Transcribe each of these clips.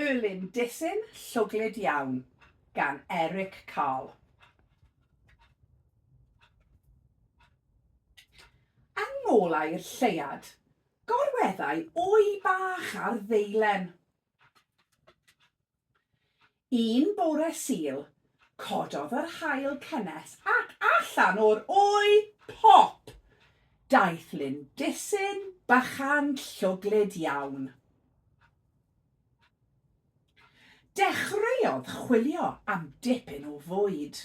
Erlyn Disyn llwglyd iawn gan Eric Carle. Yng ngolau'r lleuad, gorweddai wy bach ar ddeilen. Un bore Sul, cododd yr haul cynnes ac allan o'r wy, pop! daeth Lyn Disyn bychan llwglyd iawn. Dechreuodd chwilio am dipyn o fwyd.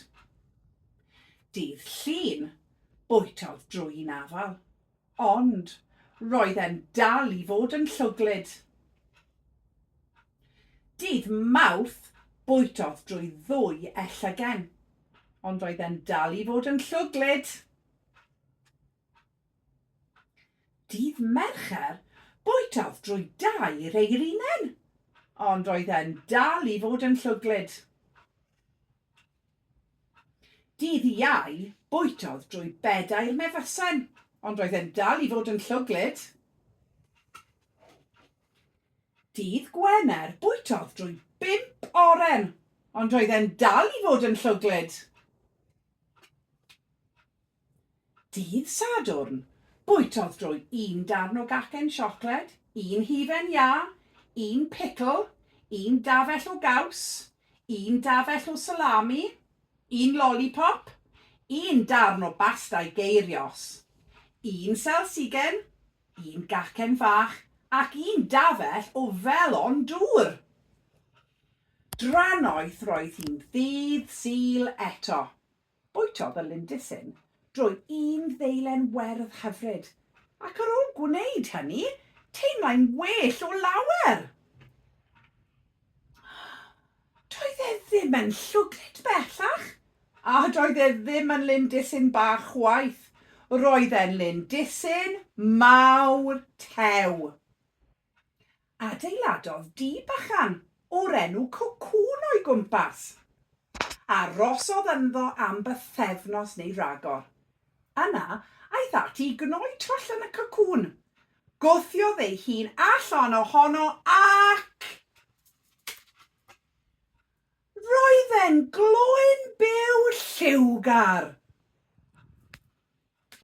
Dydd Llun, bwytaodd drwy'n afal, ond roedd e'n dal i fod yn llwglyd. Dydd Mawrth, bwytaodd drwy ddwy e llygen, ond roedd e'n dal i fod yn llwglyd. Dydd Mercher, bwytaodd drwy dair ei rinen, ond roedd e'n dal i fod yn llwglyd. Dydd Iau, bwytaodd drwy bedair mefasen, ond roedd e'n dal i fod yn llwglyd. Dydd Gwener, bwytaodd drwy bump oren, ond roedd e'n dal i fod yn llwglyd. Dydd Sadwrn, bwytodd drwy un darn o gacen siocled, un hufen iâ, un picl, un dafell o gaws, un dafell o salami, un lolipop, un darn o basta i geirios, un selsigen, un gacen fach ac un dafell o felon dŵr! Drannoeth roedd hi'n ddydd Sul eto, Bwytodd y Lindisyn drwy un ddeilen werdd hyfryd, ac ar ôl gwneud hynny, teimlai'n well o lawer! Doedd e ddim yn llwglyd bellach, a doedd e ddim yn Lindisyn bach chwaith, roedd e'n Lindisyn mawr tew! Adeiladodd dŷ bychan o'r enw Cocŵn o'i gwmpas. Arosodd ynddo am bythefnos neu ragor. Yna, aeth ati i gnoi twll yn y cocŵn. Gwthiodd ei hun allan ohono ac... roedd e'n gloyn byw lliwgar!